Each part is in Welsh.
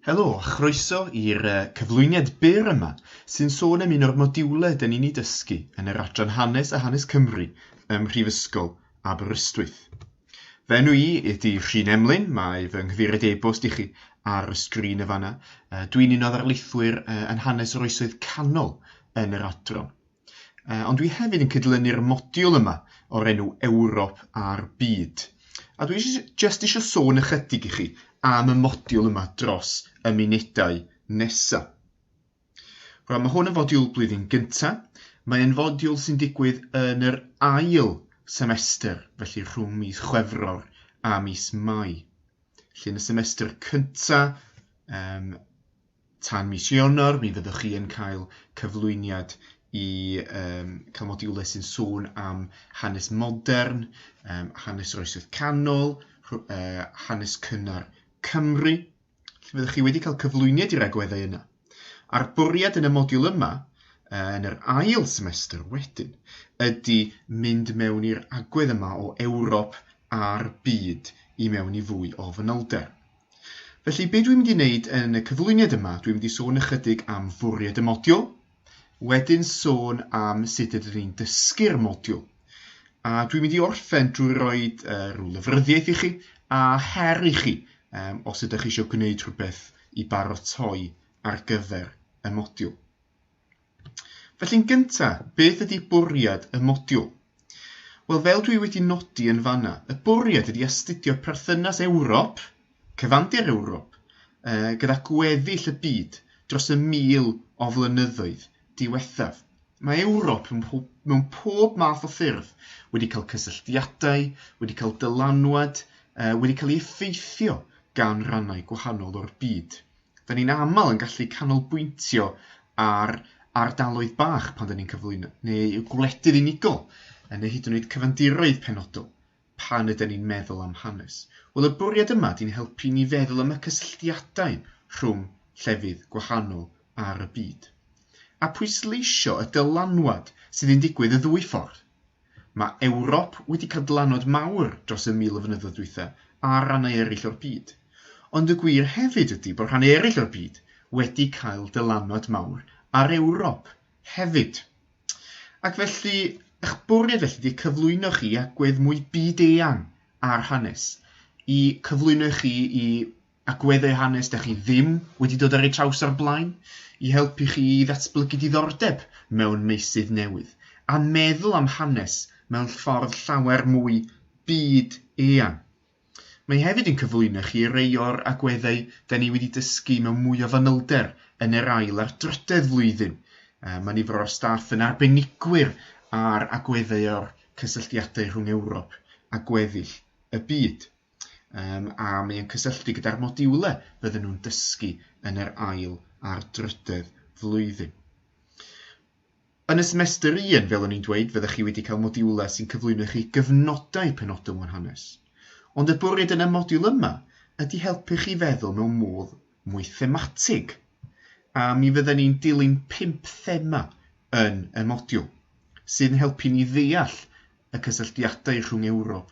Helo a chroeso i'r uh, cyflwyniad byr yma sy'n sôn am un o'r modiwlau dyn ni'n ei dysgu yn yr adran hanes a hanes Cymru ym Mhrifysgol Aberystwyth. Fe enw i ydy Rhun Emlyn, mae fy nghyfeiriad e-bost i chi ar y sgrin y fanna. Uh, Dwi'n un o ddarlithwyr uh, yn hanes yr oesoedd canol yn yr adran. Yy, ond dwi hefyd yn cydlynu'r modiwl yma o'r enw Ewrop a'r Byd. A dwi jyst eisiau sôn ychydig i chi am y modiwl yma dros y munudau nesa. Rwan, mae hwn yn fodiwl blwyddyn gynta. Mae'n fodiwl sy'n digwydd yn yr ail semester, felly rhwng mis Chwefror a mis Mai. Felly yn y semester cynta, um, Tan mis Ionawr mi fyddwch chi yn cael cyflwyniad i um, cael modiwlau sy'n sôn am hanes modern, um, hanes yr oesoedd canol, uh, hanes cynnar Cymru. Fyddwch chi wedi cael cyflwyniad i'r agweddau yna. A'r bwriad yn y modiwl yma yn yr ail semester wedyn ydy mynd mewn i'r agwedd yma o Ewrop a'r byd i mewn i fwy o fanylder. Felly, be dwi'n mynd i wneud yn y cyflwyniad yma, dwi'n mynd i sôn ychydig am fwriad y modiwl, wedyn sôn am sut ydyn ni'n dysgu'r modiwl, a dwi'n mynd i orffen drwy roi uh, rhyw lyfryddiaeth i chi a her i chi um, os ydych chi eisiau gwneud rhywbeth i barotoi ar gyfer y modiwl. Felly'n gynta', beth ydi bwriad y modiwl? Wel, fel dwi wedi nodi yn fanna, y bwriad ydi astudio perthynas Ewrop, cyfandir Ewrop, yy gyda gweddill y byd dros y mil o flynyddoedd diwethaf. Mae Ewrop mewn pob math o ffyrdd wedi cael cysylltiadau, wedi cael dylanwad, wedi cael ei effeithio gan rannau gwahanol o'r byd. 'Da ni'n aml yn gallu canolbwyntio ar ardaloedd bach pan 'da ni'n cyflwyno, neu gwledydd unigol, neu hyd yn oed cyfandiroedd penodol, pan ydyn ni'n meddwl am hanes. Wel, y bwriad yma ydy'n helpu ni feddwl am y cysylltiadau rhwng llefydd gwahanol ar y byd. A pwysleisio y dylanwad sydd yn digwydd y ddwy ffordd. Mae Ewrop wedi cael dylanwad mawr dros y mil o flynyddoedd dwytha ar rannau eraill o'r byd. Ond y gwir hefyd ydi bod rhannau eraill o'r byd wedi cael dylanwad mawr ar Ewrop hefyd. Ac felly, eich bwriad felly ydi cyflwyno chi agwedd mwy byd-eang ar hanes, i cyflwyno chi i agweddau a hanes dych chi ddim wedi dod ar eu traws o'r blaen i helpu chi i ddatblygu diddordeb mewn meysydd newydd a meddwl am hanes mewn ffordd llawer mwy byd eang. Mae hefyd yn cyflwyno chi rei o'r agweddau da ni wedi dysgu mewn mwy o fanylder yn yr ail a'r drydedd flwyddyn. Mae nifer o'r staff yn arbenigwyr ar agweddau o'r cysylltiadau rhwng Ewrop a gweddill y byd. um, a mae o'n cysylltu gyda'r modiwle fydden nhw'n dysgu yn yr ail a'r drydedd flwyddyn. Yn y semester un, fel o'n i'n dweud, fyddech chi wedi cael modiwlau sy'n cyflwyno chi gyfnodau penodol o'n hanes. Ond y bwriad yn y modiwl yma ydy helpu chi feddwl mewn modd mwy thematig. A mi fydden ni'n dilyn pimp thema yn y modiwl, sy'n helpu ni ddeall y cysylltiadau rhwng Ewrop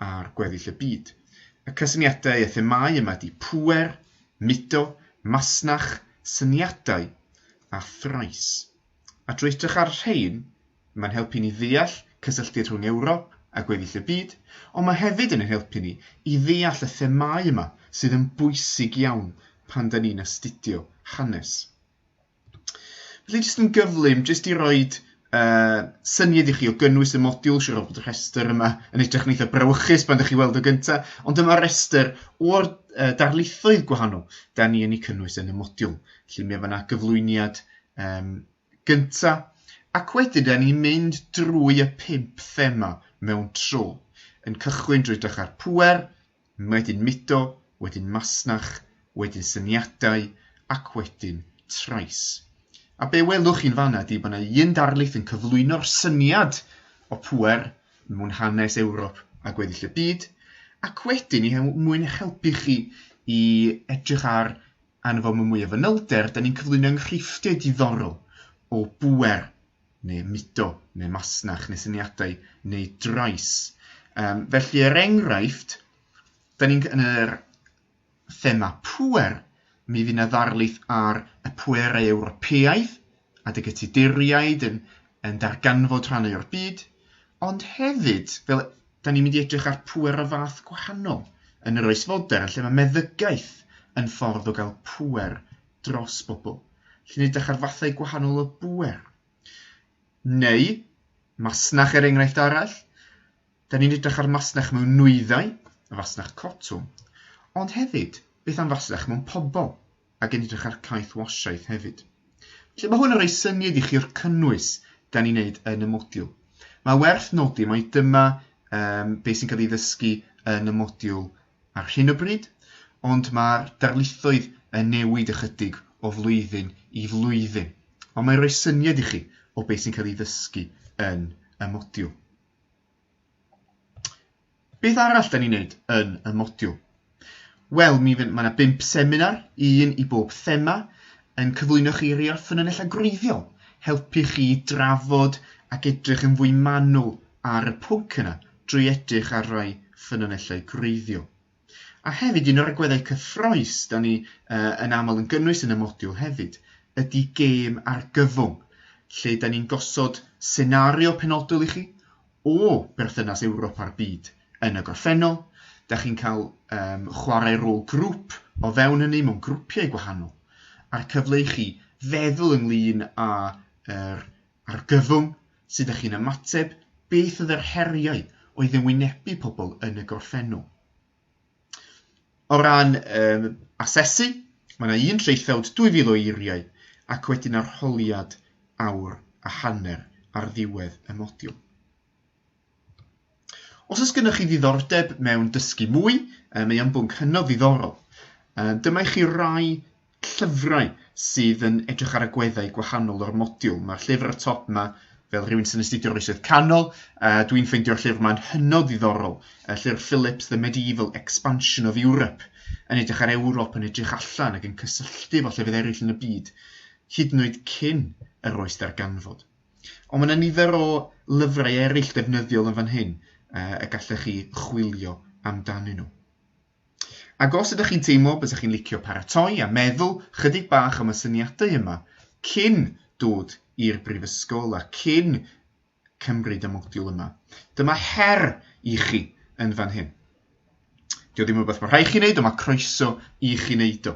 a'r gweddill y byd. Y cysyniadau a themâu yma ydy pŵer, mudo, masnach, syniadau a thrais. A drwy edrych ar y rhain, mae'n helpu ni ddeall cysylltiad rhwng Ewrop a gweddill y byd, ond mae hefyd yn ein helpu ni i ddeall y themâu yma sydd yn bwysig iawn pan da ni'n astudio hanes. Felly jyst yn gyflym, jyst i roi uh, syniad i chi o gynnwys y modiwl, siwr o fod y rhestr yma yn edrych yn eitha brawychus pan ydych chi weld o gyntaf, ond dyma rhestr o'r uh, darlithoedd gwahanol da ni yn ei cynnwys yn y modiwl. Felly mae yna gyflwyniad um, gyntaf, ac wedyn da ni'n mynd drwy y pimp thema mewn tro, yn cychwyn drwy dechrau'r pwer, Wedyn mudo, wedyn masnach, wedyn syniadau, ac wedyn trais. A be welwch chi'n fanna ydi bod yna un darlith yn cyflwyno'r syniad o pŵer mewn hanes Ewrop a gweddill y byd, ac wedyn, i he- mwyn eich helpu chi i edrych ar arno fo mewn mwy o fanylder, da ni'n cyflwyno enghreifftiau diddorol o bŵer neu mudo, neu masnach, neu syniadau, neu drais. Um, felly, er enghraifft, da ni'n yn yr thema pwer, mi fydd yna ddarlith ar y pwerau Ewropeaidd a dy gytuduriaid yn, yn darganfod rhannau o'r byd, ond hefyd, fel da ni'n mynd i edrych ar pwer o fath gwahanol yn yr oes fodern, lle mae meddygaeth yn ffordd o gael pwer dros bobl, lle ni'n edrych ar fathau gwahanol o bŵer. Neu, masnach er enghraifft arall, da ni'n edrych ar masnach mewn nwyddau, y fasnach cotwm, ond hefyd, beth am fasnach mewn pobl, ac yn edrych ar caeth wasiaeth hefyd. Felly mae hwn yn rhoi syniad i chi o'r cynnwys da ni'n neud yn y modiwl. Mae werth nodi mai dyma um, beth sy'n cael ei ddysgu yn y modiwl ar hyn o bryd, ond mae'r darlithoedd yn newid ychydig o flwyddyn i flwyddyn, ond mae'n rhoi syniad i chi o beth sy'n cael ei ddysgu yn y modiwl. Beth arall da ni'n neud yn y modiwl? Wel, mi fydd, mae yna bimp seminar, un i bob thema, yn cyflwyno chi rei o'r ffynonellau gwreiddiol, helpu chi drafod ac edrych yn fwy manwl ar y pwnc yna drwy edrych ar rai ffynonellau gwreiddiol. A hefyd, un o'r agweddau cyffroes da ni uh, yn aml yn gynnwys yn y modiwl hefyd, ydy gêm argyfwng, lle da ni'n gosod senario penodol i chi o berthynas Ewrop a'r byd yn y gorffennol. Da chi'n cael um, chwarae rôl grŵp o fewn hynny mewn grwpiau gwahanol, a'r cyfle i chi feddwl ynglyn â'r er, Argyfwng, sut ydych chi'n ymateb, beth oedd yr heriau oedd yn wynebu pobl yn y gorffennol? O ran um, asesu, mae yna un traethawd 2,000 o eiriau ac wedyn arholiad awr a hanner ar ddiwedd y modiwl. Os oes gennych chi ddiddordeb mewn dysgu mwy, um, mae o'n bwnc hynod ddiddorol. Um, dyma i chi rai llyfrau sydd yn edrych ar agweddau gwahanol o'r modiwl. Mae'r llyfr y top yma, fel rhywun sy'n astudio oesoedd canol, uh, dwi'n ffeindio'r llyfr yma'n hynod ddiddorol, y llyfr Phillips, The Medieval Expansion of Europe, yn edrych ar Ewrop yn edrych allan ac yn cysylltu fo llefydd eraill yn y byd, hyd yn oed cyn yr oes darganfod. Ond mae yna nifer o lyfrau eraill defnyddiol yn fan hyn uh, y gallech chi chwilio amdanyn nhw. Ac os ydych chi'n teimlo bod ydych chi'n licio paratoi a meddwl chydig bach am y syniadau yma cyn dod i'r brifysgol a cyn cymryd y modiwl yma, dyma her i chi yn fan hyn. Dio ddim rhywbeth mae rhaid chi wneud, ond mae croeso i chi wneud o.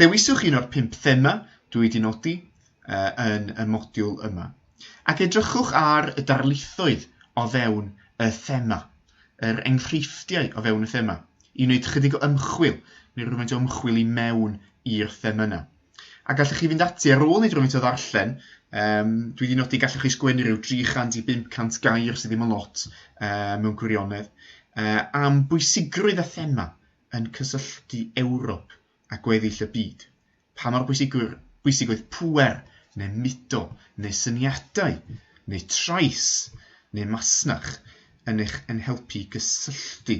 Dewiswch un o'r pimp thema dwi wedi nodi uh, yn y modiwl yma. Ac edrychwch ar y darlithoedd o fewn y thema, yr enghreifftiau o fewn y thema, i wneud chydig o ymchwil, neu rhywfaint o ymchwil i mewn i'r thema yna. A gallwch chi fynd ati ar ôl i drwy'n to ddarllen, um, dwi wedi nodi gallwch chi sgwennu rhyw 300 i 500 gair sydd ddim yn lot uh, mewn gwirionedd, uh, am bwysigrwydd a thema yn cysylltu Ewrop a gweddill y byd. Pa mor bwysig, bwysig oedd pwer, neu mudo, neu syniadau, neu trais, neu masnach yn eich yn helpu gysylltu.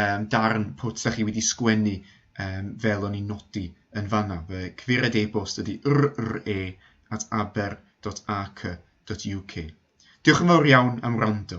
um, darn pwt da chi wedi sgwennu um, fel o'n i'n nodi yn fanna. Fy cyfeiriad e-bost ydy rre at aber.ac.uk. Diolch yn fawr iawn am wrando.